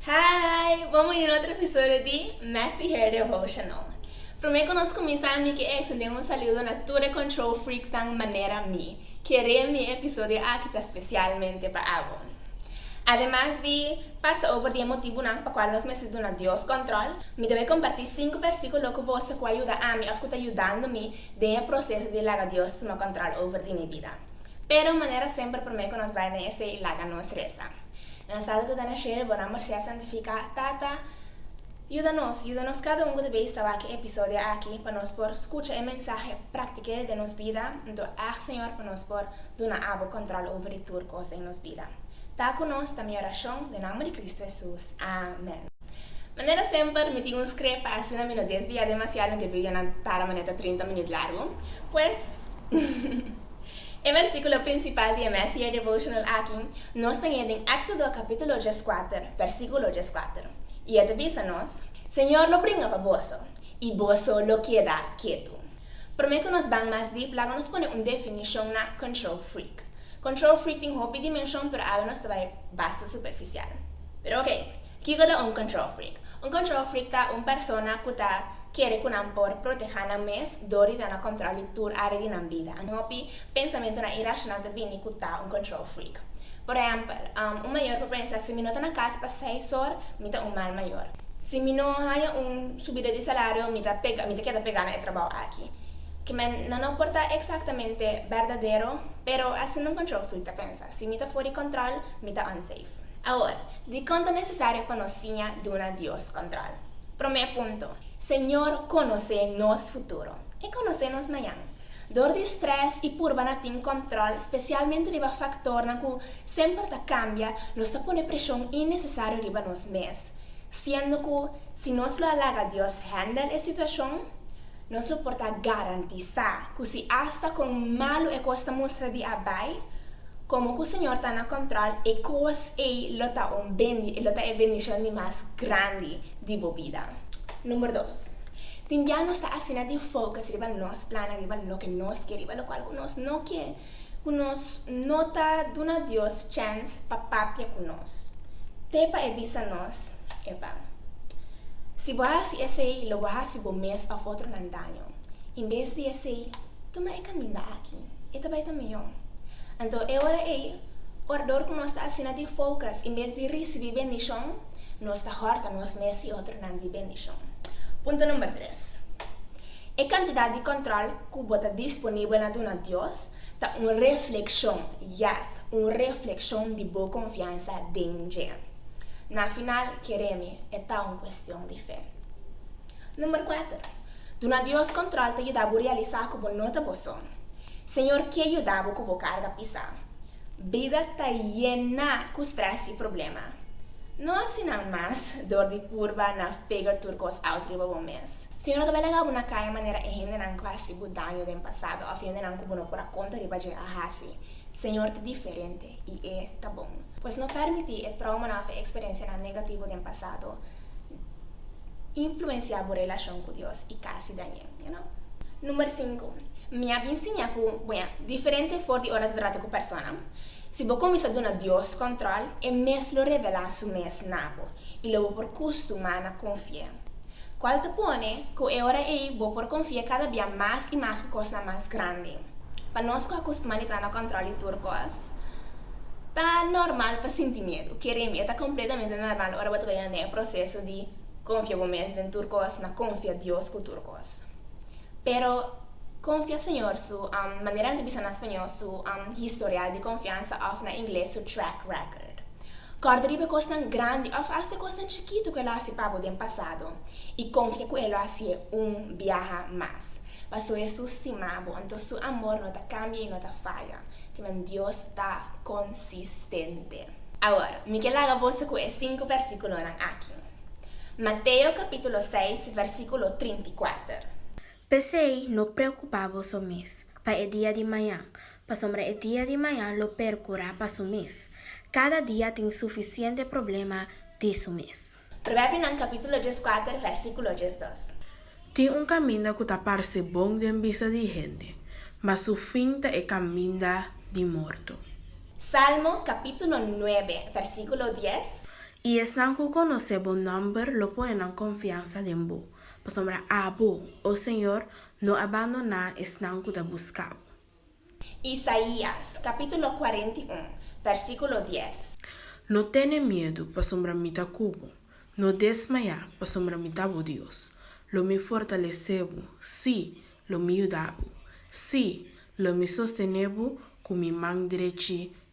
Hi! Bon bini na otro episodio di Messy Hair Devotional. Prome cu nos cuminsa mi ke extende un saludo na tur e control freaksnan manera mi. Kere mi e episodio aki ta specialmente pa abo. Ademas di pasa over di e motibunan pa cual nos mester duna Dios control, mi ta bai comparti cinco versiculo cu boso cu a yuda ami of cu ta yudando mi den e proceso di laga Dios tuma control over di mi bida. Pero manera semper promé ku nos bai den esei i laga nos resa. Na nos tata ku ta na shelu bonan Marcia santifiká, Tata, yuda nos, yuda nos kada un ku ta beis tabaki episodio aki pa nos por skucha e mensahe, praktik'é den nos bida, anto ag Señor pa nos por duna Abo kontròl over di tur kos den nos bida. Ta ku nos ta mi orashon den nomber di Kristu Hesus. Amèn. Manera semper, mi tin un scree pagina, mi no desvia demasiado den video nan para manera ta trinta minuut largo, pues e versiculo principal di e mes year devotional aki nos ta hei den Exodo capitulo diescuater versiculo diescuater y e ta bisa nos, Señor lo bringa pa boso y boso lo keda ketu. Prome cu nos ban mas deep laga nos pone un definicion na control freak. Control freak tin hopi dimension pero awe nos ta bay basta superficial. Pero oke, kiko ta un control freak? Un control freak ta un persona ku ta kere ku nan por protehá nan mes dor di ta na kòntròl di tur área di nan bida. Hopi pensamentunan irashonal ta bini ku ta un control freak. Por ehèmpel, un mayor por pensa, si mi no ta na kas pa seis or, mi ta un mal mayor. Si mi no haña un subida di salario, mi ta pega, mi ta keda pegá na e trabou aki. Kimen nan no por ta eksaktamente berdadero, pero asina un control freak ta pensa. Si mi ta for di control, mi ta unsafe. Awor, dicon ta necesario pa nos siña duna Dios control? Prome punto, Señor conoce nos futuro. E conoce nos mañan. Dor di stress y purba na tin control, specialmente riba factornan cu semper ta cambia, nos ta pone presion innecesario riba nos mes. siendo cu si nos lo a laga Dios handel e situacion, nos lo por ta garantisa cu si hasta con malo e cos ta mustra di a bay, como cu Señor ta na control e cos ey lo ta un bendi, lo ta e bendicion di mas grandi di bo bida. Number dos, tin bia nos ta asina di focus riba nos plannan, riba loke nos ke, riba locual cu nos no ke. Ku nos no ta duna Dios chèns pa papia ku nos, te pa e bisa nos e ban. Si bo hasi esei, lo bo hasi bo mes òf otronan daño. En bes di esei, tuma e kaminda aki, e ta bai ta mihó. Anto e ora ei, orador ku nos ta asina di foukas, en bes di risibí bendishon, nos ta hòrta nos mes i otronan di bendishon. Punto number tres, E kantidat di kòntròl. ku bo ta disponibel na duna Dios ta un reflekshon, yes, un reflekshon di bo konfiansa den dje. Na final, keremi, e ta un kuestion di fe. Number kuater, Duna Dios kòntròl ta yuda bo realisá ku bo no ta bo so. Señor ke yuda bo ku bo karga pisá. Bida ta yená ku strès i problema. No asina mas dor di purba na figer tur kos out riba bo mes. Siñor no ta bay laga bo na kaya manera e hendenan ku hasi bo daño den pasado òf hendenan ku bo no por a konta riba dje a hasi. Señor ta diferente i e ta bon. Pues no pèrmití e tròumanan òf e eksperensianan negativo den pasado influensiá bo relashon ku Dios i kasi dañ'é. Number sinku, Mi a bin siña ku, buña, diferente for di ora ta trata ku persona. Si bo kuminsá duna Dios kòntròl, e mes lo revelá su mes na bo i lo bo por kustumá na konfi'é. Kual ta pone ku e ora ei bo por konfi'é kada bia mas i mas ku kosnan mas grandi. Pa nos ku a kustumá di ta na kòntròl di tur kos, ta normal pa sinti miedu. Keremi, e ta kompletamente normal ora bo ta bai anda e proseso di konfia bo mes den tur kos na konfia Dios ku tur kos. Pero konfia Señor su am, manera nan ta bisa na spañol, su am, historial di konfiansa òf na ingles su track record. Kòrda riba kosnan grandi òf asta kosnan chikitu ku e lo hasi pa bo den pasado, i konfia ku e lo hasié un biaha mas. Pasobra Hesus stima bo, anto su amor no ta kambia i no ta faya. Kiman Dios ta konsistente! Awor, mi ke laga boso ku e sinku bèrsikulonan aki. Mateo capítulo seis, versículo trinta i kuater. P'esei no preokupá boso mes pa e dia di mañan, pasobra e dia di mañan lo perkurá pa su mes. Kada dia tin sufisiente problema di su mes. Proverbionan capítulo dieskuater, versículo diesdos. Tin un kaminda ku ta parse bon den bista di hende, mas su fin ta e kaminda di morto. Salmo capítulo nuebe, versículo dies. I esnan ku konosé bo nòmber lo pone nan konfiansa den bo, pasobra abo, O Señor, no a bandoná esnan ku ta buska bo. Isaías capítulo cuarenta i un, versículo dies. No tene miedu, pasobra mi ta ku bo, no desmayá, pasobra mi ta bo Dios, lo mi fortalesé bo, sí, lo mi yuda bo, sí, lo mi sostené bo ku mi man drechi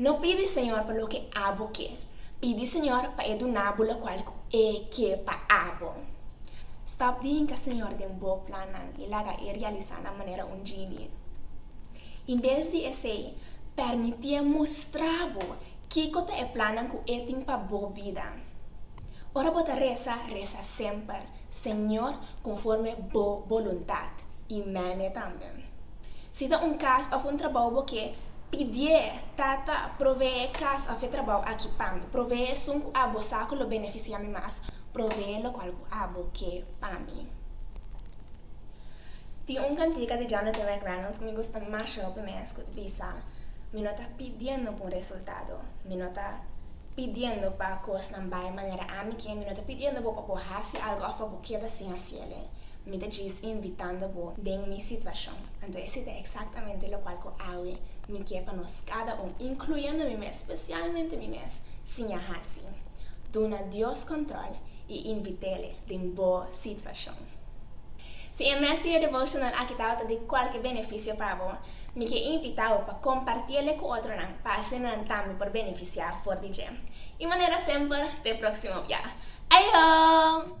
No pidi Señor pa loke abo ke, pidi Señor pa e duna bo lokual ku E ke pa abo. Stòp di hinka Señor den Bo plannan i laga e realisá nan manera un jini. In bes di esei, pèrmití E mustra bo kiko ta e plannan ku E tin pa bo bida. Ora bo ta resa, resa semper. Señor, conforme Bo boluntad. Y meme tambe. Si ta un cas of un trabao bo ke, pidié, Tata, proveé e cas of e trabao aki pami. Proveé esun cu abo sa cu lo beneficia mi mas. Proveé locual cu abo ke pami. Tin un cantica di Jonathan McReynolds cu mi gusta mashao p'e mes cu ta bisa, Mi no ta pidiendo p'un resultado. Mi no ta pidiendo pa cosnan bay manera ami ken mi no ta pidiendo bo pa bo haci algo of pa bo keda sin haci el ei, mi ta djis invitando bo den mi situacion. Anto esi ta exactamente locual cu awe mi kier pa nos cada un, incluyendo mi mes, specialmente mi mes, siña haci, duna Dios control y invitele den bo situacion. Si e mes year devotional aki tabata di cualke beneficio pa bo, Mi ke invitao pa kompartí el'e ku otronan pa asina nan tambe por benefisiá for di dje. I manera semper, t'e próksimo bia! Aihoo!